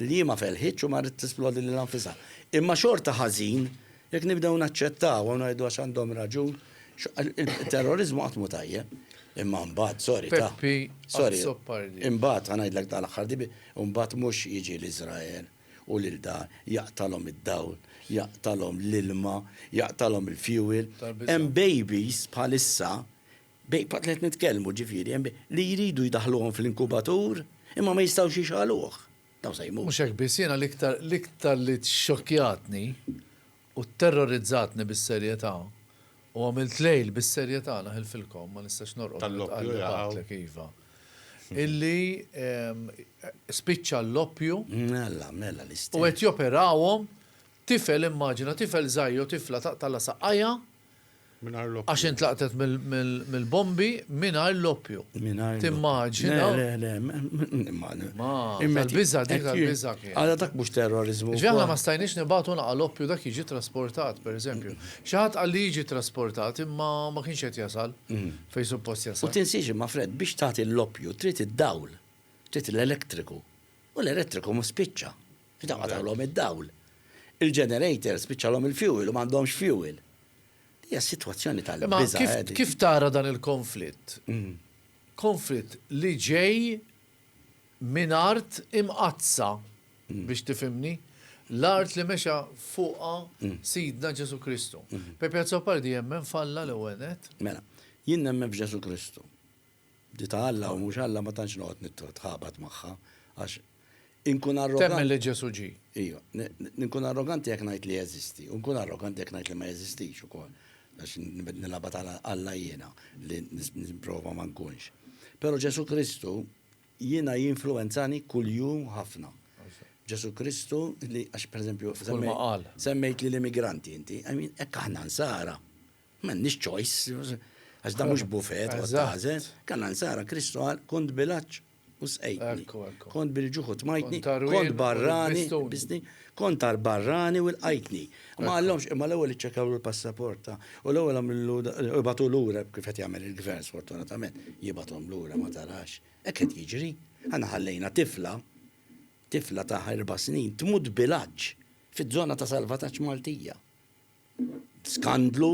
Speaker 4: L-ħjie ma felħitx u marret tisplodi lilha nfisha. Imma xorta ħażin jekk nibdew naċċettawha u ngħidu għax għandhom raġun, it-terroriżmu qatt mhu tajjeb. Imma mbagħad, sorry ta'. Peppi, qatt zoppa rdiet. Imbagħad, ħa ngħidlek ta' l-aħħar di, imbagħad mhux jiġi l-Iżrael u lil dan, jaqtalhom id-dawl, jaqtalhom l-ilma, jaqtalhom il-fuel. Hemm babies bħalissa Bejn fatt li qed nitkellmu, ġifieri, hemm li jridu jdaħħluhom fl-inkubatur, imma ma jistgħux jixgħaluh. Dawn se jmutu. Mhux hekk biss, jiena l-iktar
Speaker 2: l-iktar li xxokkjatni u tterrorizzatni bis-serjetà, u għamilt lejl bis-serjetà naħilfilkom, ma nistax norqod meta tqajjaq għaqlek,
Speaker 3: iva,
Speaker 2: illi spiċċa l-oppju
Speaker 4: u qed
Speaker 2: joperawhom tifel, immaġina tifel żgħir jew tifla taqtagħlha saqajha Għax intlaqtet mill-bombi mingħajr l-oppju. Timmaġina. Le, le, Tal-biża dik tal-biża kien. Għala dak mhux terrorizmu.
Speaker 4: Ġaħna ma stajniex nibatu
Speaker 2: naqa' l-oppju dak jiġi trasportat, pereżempju. Xi ħadd qal li jiġi trasportat imma ma kienx qed jasal mm. fejn suppost jasal. U tinsiex imma Fred biex
Speaker 4: tagħti l-oppju trid id-dawl, trid l-elettriku. U l-elettriku mhux spiċċa. Inqatgħulhom id-dawl. Il-ġenerators spiċċalhom il-fuel u m'għandhomx fuel. Hija sitwazzjoni tal-biża'. Imma kif tara dan
Speaker 2: il-konflitt? Konflitt li ġej minn art imqaddsa, biex tifhimni, l-art li mexa fuqha Sidna Ġesù Kristu. Pepe Azzopardi jemmen f'Alla l-ewwel nett? Mela, jien
Speaker 4: nemmen f'Ġesù Kristu. Di ta' Alla u mhux Alla ma tantx noqgħod nitħabat magħha għax inkun arroganti. Temmen li Ġesù ġie.
Speaker 2: Ejja,
Speaker 4: inkun arroganti jekk ngħid li jeżisti u nkun arroganti jekk ngħid li ma jeżistix ukoll. Għax nilgħabha ta' Alla jiena li nipprova ma nkunx. Però Ġesù Kristu jiena jinfluwenzani kuljum ħafna. Ġesù Kristu li għax pereżempju semmejt li l-immigranti inti, I mean hekk aħna nsara. M'għandniex choice, għax dan mhux buffet toqgħod tagħżel. Kellna nsara, Kristu qal, kont bil-għatx u sqejtni, kont bil-ġuħ u tmajtni, kont barrani u lbistni, kont tal-barrani u lqajtni. Ma qallhomx, imma l-ewwel iċċekjawlu l-passaport ta' u l-ewwel għamillu ibagħtu lura kif qed jagħmel il-Gvern sfortunatament, jibgħathom lura ma tarax. Hekk qed jiġri. Aħna ħallejna tifla, tifla ta' erba' snin tmut bil-għatx fiż-żona ta' salvataġġ Maltija. Skandlu,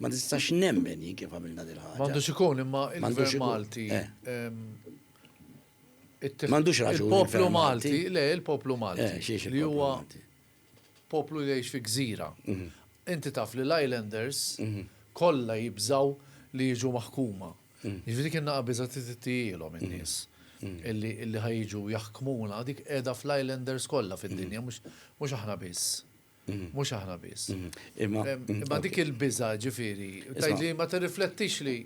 Speaker 4: ma nistax nemmen jien kif għamilna din ħaġa. M'għandux ikun imma il-Gvern
Speaker 2: Malti.
Speaker 4: M'għandux raġun. Il-poplu Malti,
Speaker 2: le, il-poplu Malti. Li huwa poplu li jgħix fi gżira. Inti taf li l-Islanders kollha jibżgħu li jiġu maħkuma. Jiġifieri kien naqa' biża' tittijielhom in-nies illi ħajġu jaħkmuna dik qiegħda fl-Islanders kollha fid-dinja mhux aħna biss. Mhux aħna biss. Imma dik il-biża' ġifieri, tgħid li ma tirriflettix li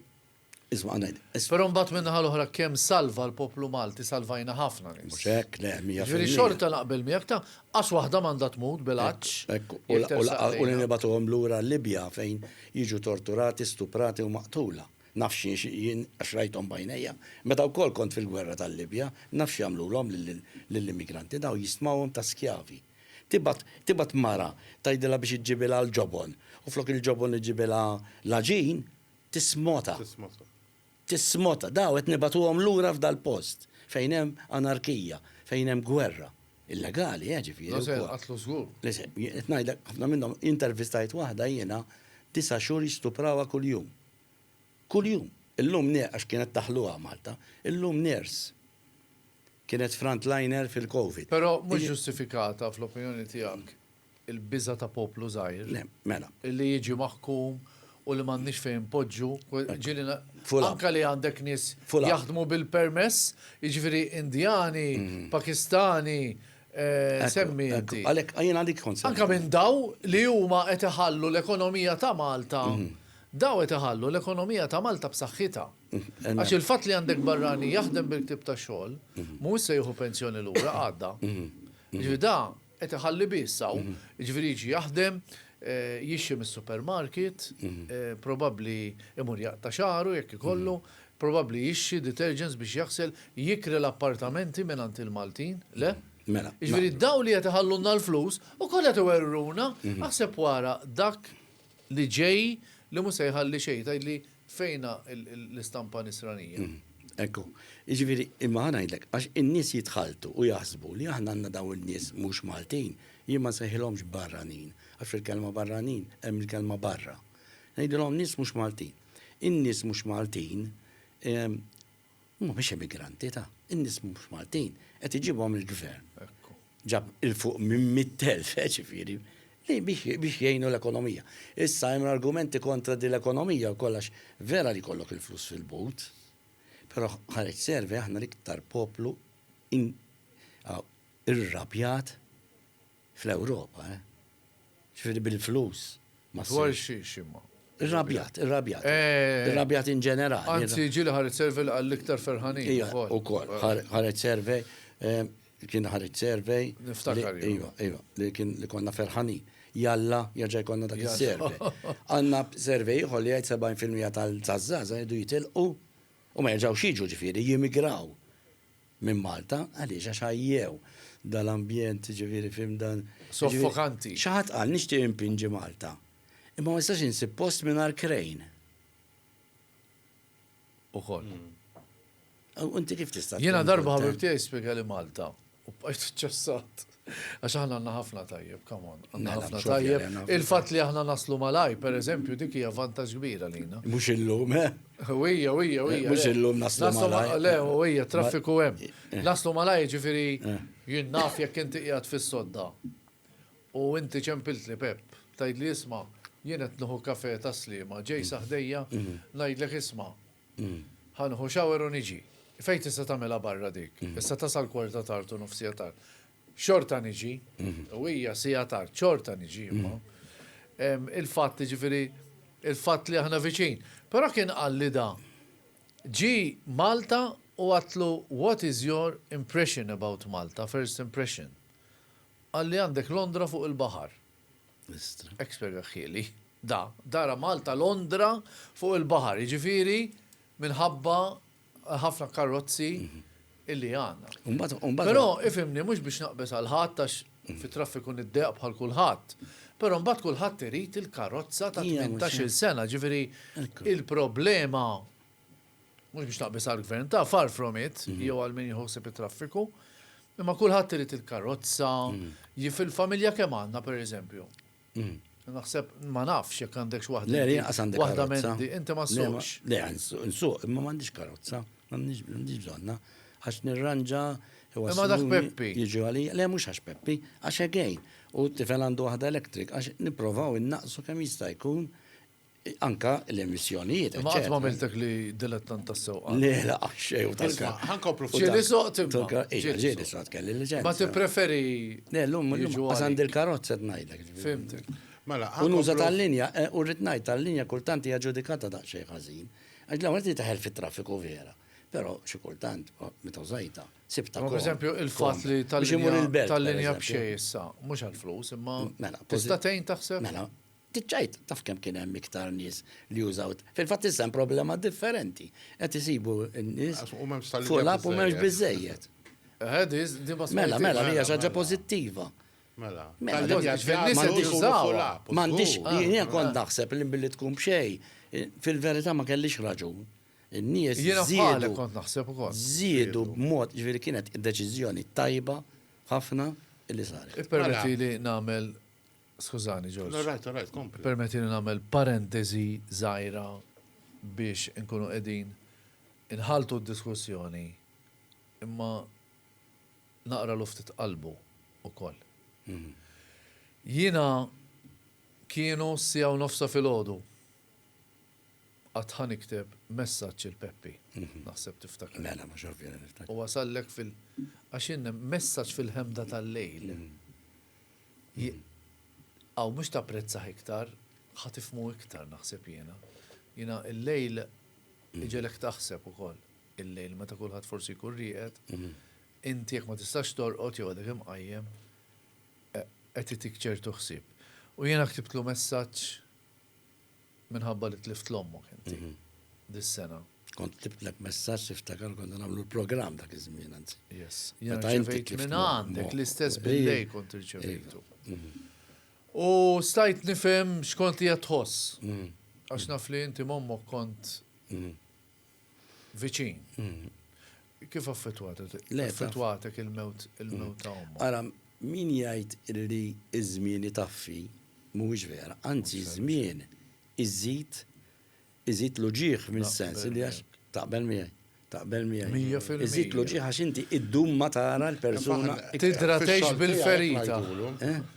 Speaker 2: Isma' ngħid.
Speaker 4: Però mbagħad minn naħa
Speaker 2: l-oħra kemm salva l-poplu Malti salvajna ħafna nies. Mhux hekk, le, mija fil-mija. Ġifieri
Speaker 4: xorta naqbel
Speaker 2: miegħek ta' qas waħda m'għandha tmut bil-għatx. Hekk, u li
Speaker 4: nibagħtuhom lura l-Libja fejn jiġu torturati, stuprati u maqtula. Naf xi jien għax rajthom b'għajnejja. Meta wkoll kont fil-gwerra tal-Libja, naf x'jagħmlulhom lill-immigranti dawn jistmawhom ta' skjavi. Tibgħat, tibgħat mara tgħidilha biex iġġibilha l-ġobon, u flok il-ġobon iġġibilha l-għaġin, tismota. Tismota. Tismota. Daw qed nibagħtuhom lura f'dal-post fejn hemm anarkija, fejn hemm gwerra. Illegali, eh, ġifieri. Le se jinqatlu żgur. Le
Speaker 2: se, qed ngħidlek,
Speaker 4: ħafna minnhom, intervistajt waħda jiena, disa' xhur jistuprawa kuljum. Kuljum. Illum, għax kienet daħluha Malta, illum nurse. Kienet frontliner fil-Covid. Però mhux ġustifikata,
Speaker 2: fl-opinjoni tiegħek, il-biża' ta' poplu żgħir. Le, mela. Li
Speaker 4: jiġi maħkum
Speaker 2: u li m'għandniex fejn inpoġġu, ġieli na, anke li għandek nies jaħdmu bil-permess, jiġifieri Indjani, Pakistani, semmi inti. Għalhekk, jien għalik kont semmejt.
Speaker 4: Anke minn daw
Speaker 2: li huma qed iħallu l-ekonomija ta' Malta, daw qed iħallu l-ekonomija ta' Malta b'saħħitha. Għax il-fatt li għandek barrani jaħdem bil-ktieb ta' xogħol mhuwiex se jieħu pensjoni lura għadda. Jiġifieri da qed iħalli biss hawn, jiġifieri jiġi jaħdem, jixtri mis-supermarket, probabbli imur jaqta' xagħru jekk ikollu, probabbli jixtri detergents biex jaħsel, jikri l-appartamenti mingħand il-Maltin, le? Jiġifieri dawn li qed iħallulna l-flus ukoll qed iwerruna, aħseb wara dak li ġej li mhux se jħalli xejn, tgħidli fejnha l-istampa nisranija? Ekku,
Speaker 4: jiġifieri imma ħa ngħidlek, għax in-nies jitħalltu u jaħsbu li aħna għandna dawn in-nies mhux Maltin, jien ma nsejħilhomx barranin, għax fil-kelma barranin hemm il-kelma barra. Ngħidilhom nies mhux Maltin. In-nies mhux Maltin Huma mhux emigranti ta', in-nies mhux Maltin qed iġibhom il-gvern. Ġab 'il fuq minn mitt elf, ġifieri, li biex jgħinu l-ekonomija. Issa hemm argumenti kontra din l-ekonomija wkoll għax vera li jkollok il-flus fil-but, però ħareġ survey aħna l-iktar poplu irrabjat Fl-Ewropa, eh? Ġifieri bil-flus. Dwar
Speaker 2: xiex imma? Irrabjat,
Speaker 4: irrabjat. Eh. Irrabjat in ġenerali. Anzi, ġili ħareġ survey
Speaker 2: għall-iktar ferħanin. Ija, u kol,
Speaker 4: ħareġ survey, eh, kien ħareġ survey. Niftakar. Ija,
Speaker 2: ija, li kien
Speaker 4: li konna ferħanin. Jalla, jaġa jkonna dak il-survey. Għanna survey ħolli għajt 70% tal-zazzaza jdu jitilqu u ma jaġaw xieġu ġifiri, jimigraw. minn Malta, għaliex għax ħajjew dal-ambjent jiġifieri f'hemm dan. Soffokanti. Xi
Speaker 2: ħadd qal nixtieq
Speaker 4: impinġi Malta, imma ma nistax insib post mingħajr krejn.
Speaker 2: Ukoll.
Speaker 4: U inti kif tista'. Jiena darba ħabib tiegħi
Speaker 2: spjegali Malta u bqajt iċċassat. Għax aħna għandna ħafna tajjeb, come on. Għandna mela, ħafna tajjeb. Il-fatt li aħna naslu malaj, per eżempju, dik hija vantaġġ kbira lina. Mhux illum, eh?
Speaker 4: Wija, wija,
Speaker 2: wija. Mhux illum
Speaker 4: naslu malaj. Le, wija,
Speaker 2: traffiku hemm. Eh. Naslu malaj, ġifieri eh. jien naf jekk inti qiegħed fis-sodda. U inti ċempilt li Pep, tgħid li isma' jien qed nieħu kafe ta' slima, ġej mm. saħdejja, mm. ngħidlek isma' Ħa nieħu shower u niġi. Fejn tista' tagħmilha barra dik? Issa tasal kwarta tard u nofsija tard. Xorta niġi. U hija siegħa tard. Xorta niġi imma. Il-fatt, jiġifieri, il-fatt li aħna viċin. Però kien qalli da, ġie Malta u għadtlu what is your impression about Malta, first impression? Qalli għandek Londra fuq il-baħar. Hekk spjega ħieli. Da, dara Malta Londra fuq il-baħar, jiġifieri minħabba ħafna karrozzi illi għandna. Però ifhimni mhux biex naqbeż għal ħadd għax fit-traffiku niddeq bħal kulħadd. Però mbagħad kulħadd irid il-karozza ta' tmintax-il sena, jiġifieri il-problema mhux biex naqbis għall-gvern ta' far from it, mhm. jew għal min jħossib it-traffiku, imma kulħadd irid il-karozza, mhm. jif il-familja kemm għandna pereżempju. Mhm. Naħseb ma nafx jekk għandekx waħda. Le, għas għandek waħda mendi, inti ma suqx. Le, nsuq,
Speaker 4: imma m'għandix karozza, m'għandix bżonna, għax nirranġa Imma dak
Speaker 2: Peppi. Jiġu għalli, le mhux
Speaker 4: għax Peppi, għax għegħin. U t-tifel għandu waħda elektrik, għax nipprovaw innaqsu kemm jista' jkun Anka l-emissjonijiet. Ma għatma miltek li
Speaker 2: dilettant ta' sew. Le, la, xej u
Speaker 4: tal-ka. Għankopru fuq. Ġili
Speaker 3: soq tibqa.
Speaker 2: Ġili soq
Speaker 4: kelli li ġen. Ma ti preferi.
Speaker 2: Le, l-lum,
Speaker 4: l-lum, għazan dil-karozza t-najdlek. Fimtek.
Speaker 2: Mela, unuża
Speaker 3: tal-linja,
Speaker 4: eh, u rritnajt tal-linja kultanti għagġudikata da' xej ħazin. Għax l-għamil ti taħel fit-traffiku vera. Pero, xie kultant, oh, meta użajta, sibta. Per eżempju, il-fat
Speaker 2: li tal-linja tal-linja bxej issa, mux għal-flus, imma. Mela, tista' tejn taħseb? Mela, Dik għid,
Speaker 4: taf kemm kien hemm iktar nies li użaw. Fil-fatt issa hemm problema differenti. Qed isibu n-nies fuq l-app u m'hemmx biżejjed. Mela, mela, hija xi ħaġa pożittiva.
Speaker 3: Mela,
Speaker 4: m'għandix jien kont naħseb li billi tkun b'xejn, fil-verità ma kellix raġun. In-nies żiedu kont
Speaker 2: naħseb ukoll. Żiedu b'mod,
Speaker 4: ġifieri kienet deċiżjoni tajba ħafna li saret. Ippermettili nagħmel
Speaker 2: Skużani, George. All right, all right, kompli. Permettili
Speaker 3: nagħmel
Speaker 2: parentesi żgħira biex inkunu qegħdin inħaltu d-diskussjoni imma naqra luftit qalbu ukoll. Mhm. Jiena kienu sija u nofsa fil-ħodu għatħan ikteb messaċ il-Peppi, mhm. naħseb tiftakar. Mela, ma xorfi niftakar.
Speaker 4: U għasallek
Speaker 2: fil- għaxin messaċ fil-ħemda tal-lejl. Mhm. Hi Aw mhux tapprezzah iktar, ħa tifhmu iktar naħseb jiena. Jiena il-lejl iġegħlek taħseb ukoll. Il-lejl meta kulħadd forsi jkun rieqed, inti jekk ma tistax torqod jew għadek imqajjem, qed itik ċertu ħsieb. U jiena ktibtlu messaġġ Minħabba li tlift 'l ommok inti dis-sena. Kont ktibtlek
Speaker 4: messaġġ niftakar konna nagħmlu l-programm dak iż-żmien anzi. Yes. Meta
Speaker 2: inti tlift minn għandek l-istess billej kont irċevejtu. Mhm. U stajt nifhem x'kont qiegħed tħoss. Mhm. Għax naf li inti m'ommok kont mhm. viċin. Mm. Kif affettwatek? Affettwatek il-mewt il-mewt ta' omma. Ara, min
Speaker 4: jgħid li iż-żmien itaffi mhuwiex vera, anzi żmien iżid iżid l-uġieħ mis-sens li għax taqbel miegħi. Taqbel miegħi. Iżid l-uġieħ għax inti iddum ma tara l-persuna. Tidra tgħix
Speaker 2: bil-ferita.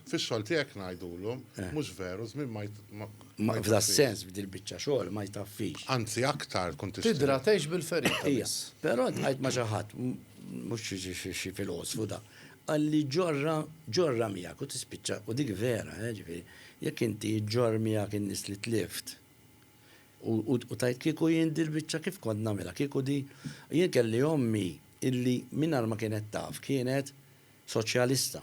Speaker 2: Fix-xogħol
Speaker 3: tiegħek ngħidulhom, mhux veru, żmien ma Ma f'da
Speaker 4: sens f'dil biċċa xogħol ma jtaffix. Anzi aktar tkun
Speaker 3: tista'. Tidra tgħix bil-ferita.
Speaker 2: Ija, però tqajt
Speaker 4: ma' xi ħadd mhux xi filosfu da. Qalli ġorra ġorra miegħek u tispiċċa u dik vera, eh, ġifieri, jekk inti ġġorr miegħek in-nies li tlift U tajt kieku jien dil biċċa kif kont nagħmilha, kieku di jien kelli ommi illi mingħajr ma kienet taf kienet soċjalista.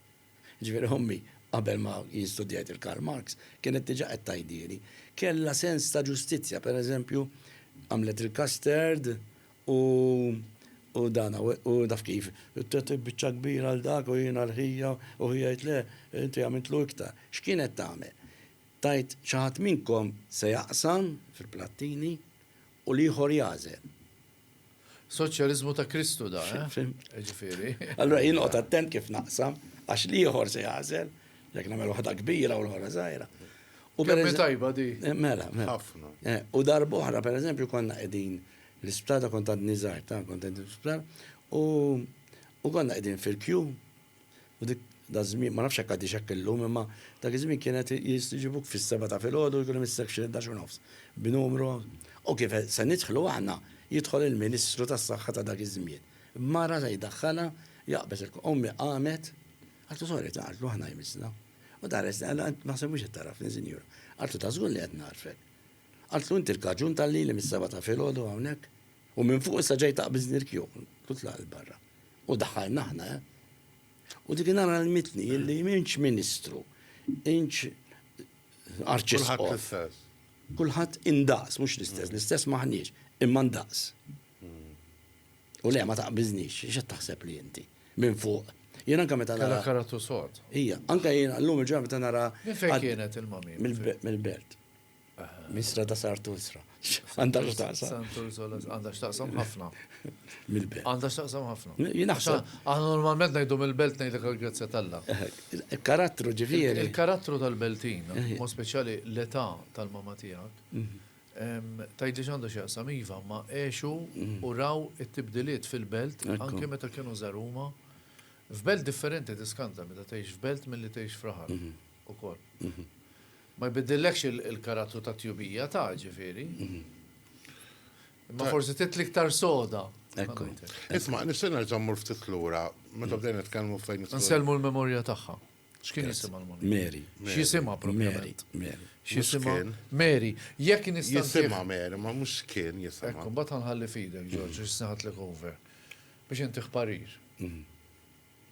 Speaker 4: Jiġifieri ommi, qabel ma jien studjajt il-Karl Marx, kienet diġà qed tgħidhieli. Kellha sens ta' ġustizzja, pereżempju, għamlet il-custard u u dan u taf kif, tat biċċa kbira għal dak u jiena l-ħija u ħija jgħid le, inti għamiltlu iktar. X'kienet tagħmel? Tgħid xi ħadd minnkom se jaqsam fil-plattini u l-ieħor jagħżel.
Speaker 2: Soċjaliżmu ta' Kristu da, eh? Ġifieri. Allura jien noqgħod
Speaker 4: attent kif naqsam għax li ieħor se jażel, jekk nagħmel waħda kbira u l-ħora żgħira. U per
Speaker 2: tajba di. Eh, mela, mela. Ħafna.
Speaker 4: Eh, u darbohra, per eżempju, konna qegħdin l-isptada kont għad nizar, ta' kont għedin l-isptada, u konna qegħdin fil-kju, U dik daż-żmien, ma nafx jekk għadhiex hekk illum, imma dak iż-żmien kienet jistiġibuk fis-sebgħa ta' filgħodu u jkun hemm is-section il-ħdax u nofs, b'numru. U kif se nidħlu aħna, jidħol il-Ministru tas-Saħħa ta' dak iż-żmien, b'mara se jdaħħalha, jaqbeż il-. Ommi qamet, qaltlu sorry ta', qaltlu aħna jmissna. U tħares, naħseb mhux qed tagħrafni, sinjura. Qaltlu ta' żgur li qed nagħrfek. Qaltlu inti l-kaġun tal-lili mis-sebgħa ta' filgħodu hawnhekk? U minn fuq issa ġej taqbiż nirkju, tutlaq il-barra. U daħħalna aħna, eh? U dik nara l-mitni illi minċ ministru, inċ arċisqof. Kulħadd indaqs, mhux l-istess, mm. l-istess maħniex, imma ndaqs. Mm. U le ma taqbiżnix, x'qed taħseb li inti? Minn fuq. Jena anka meta nara. karatu sot.
Speaker 2: Ija, anka
Speaker 4: jena
Speaker 2: l-lum il-ġurnata
Speaker 4: nara. Fejn
Speaker 2: kienet
Speaker 4: il-mami? Mill-belt. Misra ta' Sartusra. Għandha x'taqsam. Sartusra għandha
Speaker 2: x'taqsam ħafna. Mill-belt.
Speaker 4: Għandha x'taqsam ħafna.
Speaker 2: Jinaħseb. Aħna
Speaker 4: normalment ngħidu
Speaker 2: mill-belt ngħidlek il-grazzja talla. Il-karattru
Speaker 4: ġifieri. Il-karattru tal-Beltin,
Speaker 2: mo speċjali l-età tal-mama tiegħek. Tgħidli x'għandu x'jaqsam iva, ma għexu u raw it-tibdiliet fil-belt anke meta kienu żgħar huma. F'belt differenti tiskanta meta tgħix f'belt milli tgħix f'raħal ukoll. Ma jbiddillekx il-karattru tat-tjubija, ta', ġifieri. Imma forsi trid l-iktar soda. Ekku. Isma',
Speaker 3: nixtieq nerġa' mmur ftit lura meta bdejna nitkellmu fejn. Nsellmu l-memorja tagħha.
Speaker 2: X'kien jisimha l-mara? Mary. X'jisimha
Speaker 4: propjament?
Speaker 2: Mary. X'jisimha? Mary. Jekk nista' nsiħħ. Jisimha Mary, ma mhux
Speaker 3: x'kien jisimha. Ekku, mbagħad ħa nħalli f'idek,
Speaker 2: Ġorġ, biex se nagħtlek over. Biex intih parir.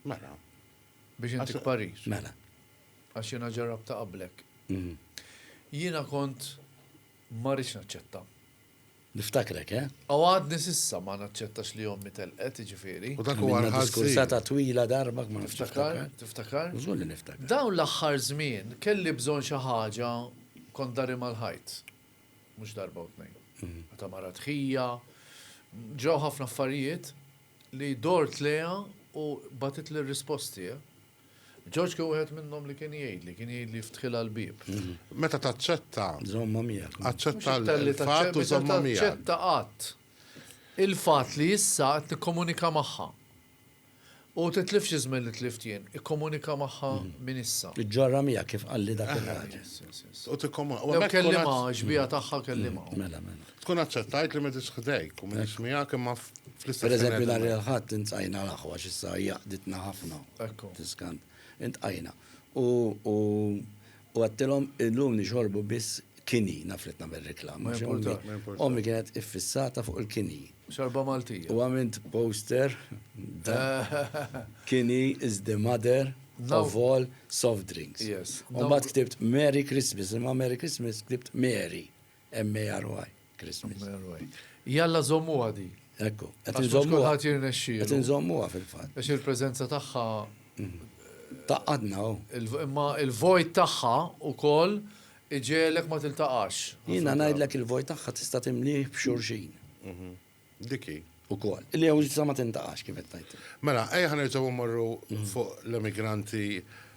Speaker 3: Mela.
Speaker 2: Biex intih parir. Mela.
Speaker 4: Għax jiena
Speaker 2: ġarrabtha qablek. Jiena kont ma rridx naċċetta. Niftakrek,
Speaker 4: eh? U għadni
Speaker 2: s'issa ma naċċettax li ommi telqet, jiġifieri. U dak huwa l-ħażin.
Speaker 3: Diskursata twila
Speaker 4: darba kma nafx tiftakar. Tiftakar?
Speaker 2: Żgur li niftakar.
Speaker 4: Dawn l-aħħar żmien
Speaker 2: kelli bżonn xi ħaġa kont dari mal-ħajt. Mhux darba u tnejn. Meta mara tħija, ġraw ħafna affarijiet li dort lejha u bagħtitli r-risposti, eh? Ġorġ kien wieħed minnhom li kien jgħidli, kien jgħidli jiftħilha l-bieb. Meta taċċetta.
Speaker 3: Żomma miegħek.
Speaker 4: Aċċetta
Speaker 3: l-fatt u żomma miegħek. Aċċetta qatt.
Speaker 2: Il-fatt li issa qed tikkomunika magħha. U titlifx iżmel li tlift jien, ikkomunika magħha mm. minn issa. Iġġorra mija kif
Speaker 4: qalli dak il-ħaġa. U tikkomunika.
Speaker 3: U kellima
Speaker 2: xbija tagħha kellima. Mm, mela, mela. Tkun
Speaker 4: aċċettajt li
Speaker 3: m'qegħdix ħdejk u m'iniex miegħek imma fl-istess Per eżempju, nhar il-ħadd
Speaker 4: intajna l-aħwa x'issa jaqditna ħafna. Ekku. Tiskant. Intqajna. U u għedtilhom illum nixorbu biss kini, naf li tnagħmel riklama. Ma jimpurtax, ma jimpurtax. Ommi kienet iffissata fuq il-kini. Xorba Maltija.
Speaker 2: U għamilt poster
Speaker 4: kini is the mother of all soft drinks. Yes. U mbagħad ktibt Merry Christmas, imma Merry Christmas ktibt Mary. M-A-R-Y, Christmas. M-A-R-Y. Jalla
Speaker 2: zommuha di. Ekku, qed
Speaker 4: inżommuha. Qed
Speaker 2: jirnexxi. Qed inżommuha fil-fatt.
Speaker 4: Għax il-preżenza tagħha.
Speaker 2: Mhm.
Speaker 4: Taqadna u. Imma
Speaker 2: il-vojt tagħha ukoll iġelek ma tiltaqax. Jiena ngħidlek
Speaker 4: il-vojt tagħha tista' timlih b'xurxin. Mhm.
Speaker 3: Dik hi, ukoll. Li
Speaker 4: hawn ġustizza ma tintaqax kif qed tgħid. Mela, ejja ħa nerġgħu
Speaker 3: mmorru fuq l-emigranti,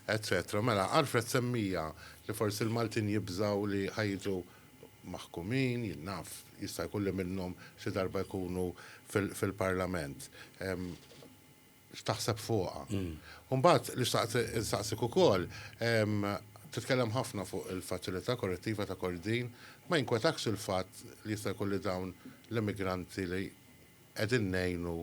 Speaker 3: eċċetera. Mela, Alfred semmieha li forsi l-Maltin jibżgħu li ħa jiġu maħkumin, jien naf, jista' jkun li minnhom xi darba jkunu fil-Parlament. x'taħseb fuqha. U mbagħad li xtaqt insaqsik ukoll, titkellem ħafna fuq il-faċilità korrettiva ta' Kordin, ma jinkwetakx il-fatt li jista' jkun li dawn l-immigranti li qegħdin ngħinu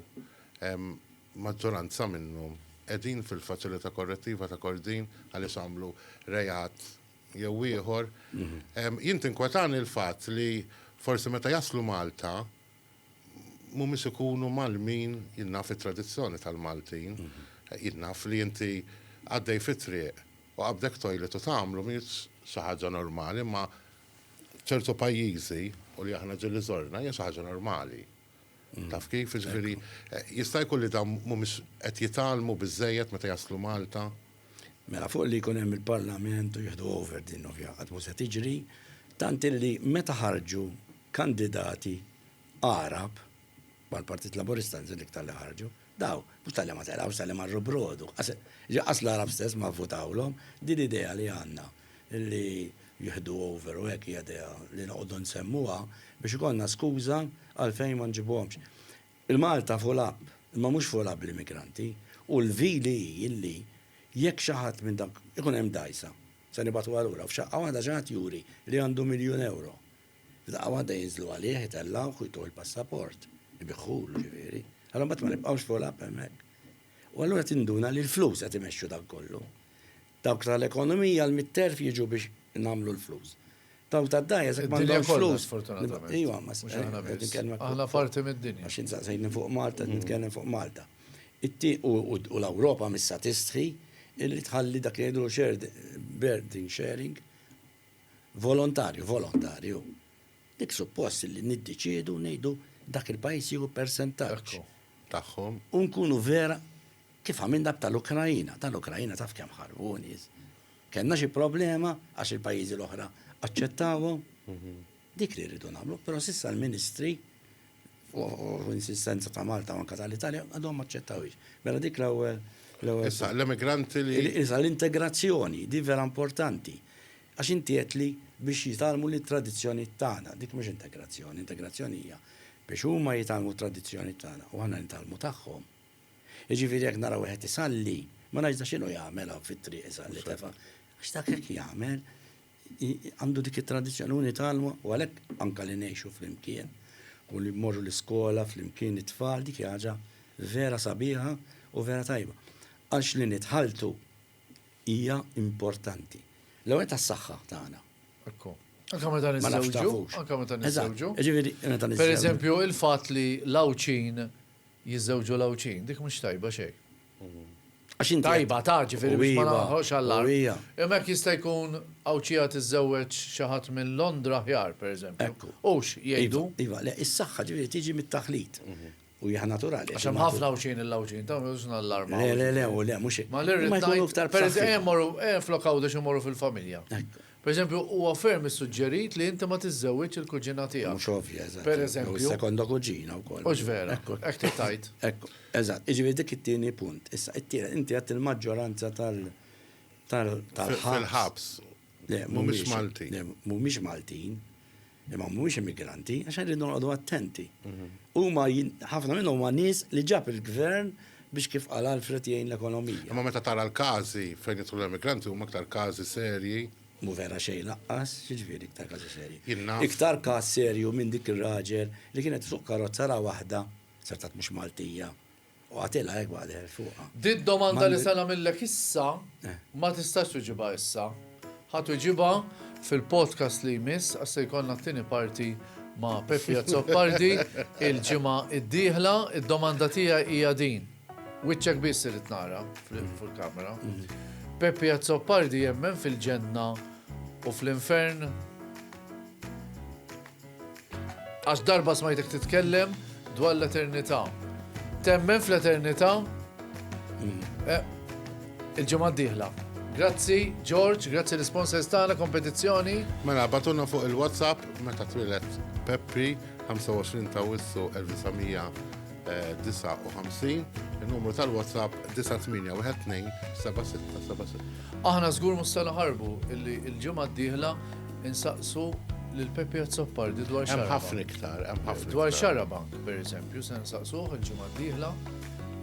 Speaker 3: maġġoranza minnhom qegħdin fil-faċilità korrettiva ta' Kordin għaliex għamlu reat jew ieħor. Jien tinkwetani l-fatt li forsi meta jaslu Malta, mhumiex ikunu mgħallmin, jien naf it-tradizzjoni tal-Maltin, jien naf li inti għaddej fit-triq u qabdek toilet u tagħmlu mhijiex xi ħaġa normali imma ċertu pajjiżi u li aħna ġieli żorna hija xi ħaġa normali. Taf kif? Jiġifieri jista' jkun li dawn mhumiex qed jitgħallmu biżżejjed meta jaslu Malta? Mela fuq
Speaker 4: li jkun hemm il-Parlament u jieħdu over din ovvja qatt mhu se tiġri, tant illi meta ħarġu kandidati Għarab, bħal Partit Laburista nżil iktar li ħarġu, daw mhux talli ma telgħux talli marru brodu. Ġi qas l-Għarab stess ma vvutawlhom, din l-idea li għandna li jieħdu over u hekk hija idea li noqogħdu nsemmuha biex ikollna skuża għalfejn ma nġibuhomx. Il-Malta full up, imma mhux full up bl-immigranti, u l-vili hi illi jekk xi ħadd minn dawk, ikun hemm dgħajsa, se nibgħatuha lura, u f'xaqqa waħda xi ħadd juri li għandu miljun ewro, f'daqqa waħda jinżlu għalih, itellgħuh u jtuh il-passaport, ibiħħulu ġifieri, allura mbagħad ma nibqgħux full up hemmhekk. U allura tinduna li l-flus qed imexxu dan kollu. Dawk ta' l-ekonomija l-mitterf jiġu biex nagħmlu l-flus. Dawk tad-dgħajjes jekk m'għandhomx flus. Iva, ma s-s. Mhux aħna biss. Aħna
Speaker 2: parti mid-dinja. Għax int saqsejtni fuq
Speaker 4: Malta, nitkellem fuq Malta. It-tie u l-Ewropa missa tistħi li tħalli dak li jgħidulu shared burden sharing volontarju, volontarju. Dik suppost li niddeċiedu ngħidu dak il-pajjiż jieħu persentaġġ. Tagħhom.
Speaker 3: U nkunu vera
Speaker 4: Kif għamilna b'tal-Ukraina. Tal-Ukraina taf kemm ħarbu nies. Kellna xi problema għax il-pajjiżi l-oħra aċċettawhom. Dik li rridu nagħmlu, però s'issa l-Ministri u insistenza ta' Malta u anke tal-Italja għadhom ma aċċettawhiex. Mela dik l-ewwel l-ewwel. Issa
Speaker 3: l-emigranti li. Issa l-integrazzjoni,
Speaker 4: di vera importanti. Għax inti għedt li biex jitgħallmu lit-tradizzjonijiet tagħna. Dik mhux integrazzjoni. Integrazzjoni hija biex huma jitgħallmu t-tradizzjonijiet tagħna u aħna nitgħallmu tagħhom. Jiġifieri jekk nara wieħed isalli, ma ngħidx da x'inhu jagħmel hawn fit-triq isalli tefa'. Għax dak hekk jagħmel, għandu dik it-tradizzjoni u nitgħallmu u għalhekk anke li ngħixu flimkien u li mmorru l-iskola flimkien it-tfal dik hija ħaġa vera sabiħa u vera tajba. Għax li nitħalltu hija importanti. L-ewwel nett għas-saħħa tagħna. Ekku.
Speaker 2: Anke meta niżżewġu, anke meta niżżewġu. Jiġifieri meta niżżewġu.
Speaker 4: Pereżempju,
Speaker 2: il-fatt li l-Għawdxin jiżżewġu l-Għawdxin, dik mhux tajba xejn. Għax inti. Tajba ta' ġifieri biex ma naħħoqx allarm. Imma jekk jista' jkun Għawdxija tiżżewweġ xi ħadd minn Londra aħjar, pereżempju. Hux jgħidu. Iva, le, is-saħħa
Speaker 4: ġifieri tiġi mit-taħlit. U hija naturali. Għax hemm ħafna Għawdxin
Speaker 2: il-Għawdxin, ta' mhux nallarmaw. Le, le, le, u le, mhux.
Speaker 4: Ma l-irrid ngħid.
Speaker 2: Pereżempju, ejja mmorru, ejja flok Għawdex immorru fil-familja. Per eżempju, huwa ferm issuġġerit li inti ma tiżżewwiġx il-kuġina tiegħek. Mhux ovvja, eżatt. Per
Speaker 4: eżempju. Jew sekonda
Speaker 2: kuġina wkoll.
Speaker 4: Hux vera. Hekk trid
Speaker 2: tgħid. Hekk. Eżatt.
Speaker 4: Jiġifieri dik it-tieni punt. Issa, it-tielet, inti għedt il-maġġoranza tal tal tal-ħabs. Fil-ħabs.
Speaker 3: Le, mhumiex Maltin. Le, mhumiex Maltin.
Speaker 4: Imma mhumiex immigranti, għax rridu noqogħdu attenti. Mhm. Huma ħafna minnhom huma nies li ġab il-gvern biex kif qal Alfred jgħin l-ekonomija. Imma meta tara l-każi
Speaker 3: fejn jidħlu l-immigranti huma aktar każi serji. Mu vera xejn
Speaker 4: laqqas, jiġifieri iktar każi serji. Iktar każ serju minn dik ir-raġel li kienet suq karozza ra waħda, sartat mhux Maltija, U għatilha hekk waqt li qegħed fuqha. Di d-domanda li se
Speaker 2: nagħmillek issa, ma tistax tweġibha issa. Ħa tweġibha fil-podcast li jmiss għax se jkollna t-tieni parti ma' Pepi Azzopardi il-ġimgħa d-dieħla. Id-domanda tiegħi hija din, wiċċek biss irrid nara fil-kamera. Pepi Azzopardi jemmen fil-ġenna u fl-infern? Għax darba smajtek titkellem dwar l-eternità. Temmen fl-eternità? Eh, il-ġimgħa d-dieħla. Grazzi, George, grazzi l-sponsors tagħna kompetizzjoni. Mela, batuna
Speaker 3: fuq il-WhatsApp meta twilet Pepri 25 ta' Wissu 1959, il-numru tal-WhatsApp 9812 7676. Aħna żgur mhux
Speaker 2: se naħarbu illi l-ġimgħa d-dieħla Insaqsu lil Pepi Azzopardi dwar xarabank. Hemm ħafna iktar,
Speaker 3: hemm ħafna. Dwar xarabank, per
Speaker 2: eżempju, se nsaqsuh il-ġimgħa d-dieħla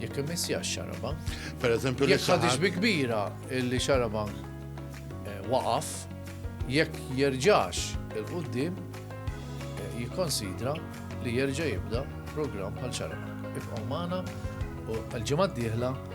Speaker 2: jekk imissja xarabank. Per eżempju, jekk
Speaker 3: ħadix bi kbira
Speaker 2: li xarabank eh, waqaf, jekk jerġax il-qoddim eh, jikkonsidra li jerġa' jibda programm bħal xarabank. Ibqgħu magħna u għal-ġimgħa d-dieħla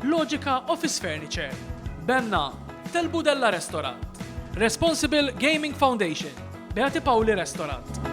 Speaker 1: Logica Office Furniture, Benna, Tel Budella Restorant, Responsible Gaming Foundation, Beati Pauli Restorant.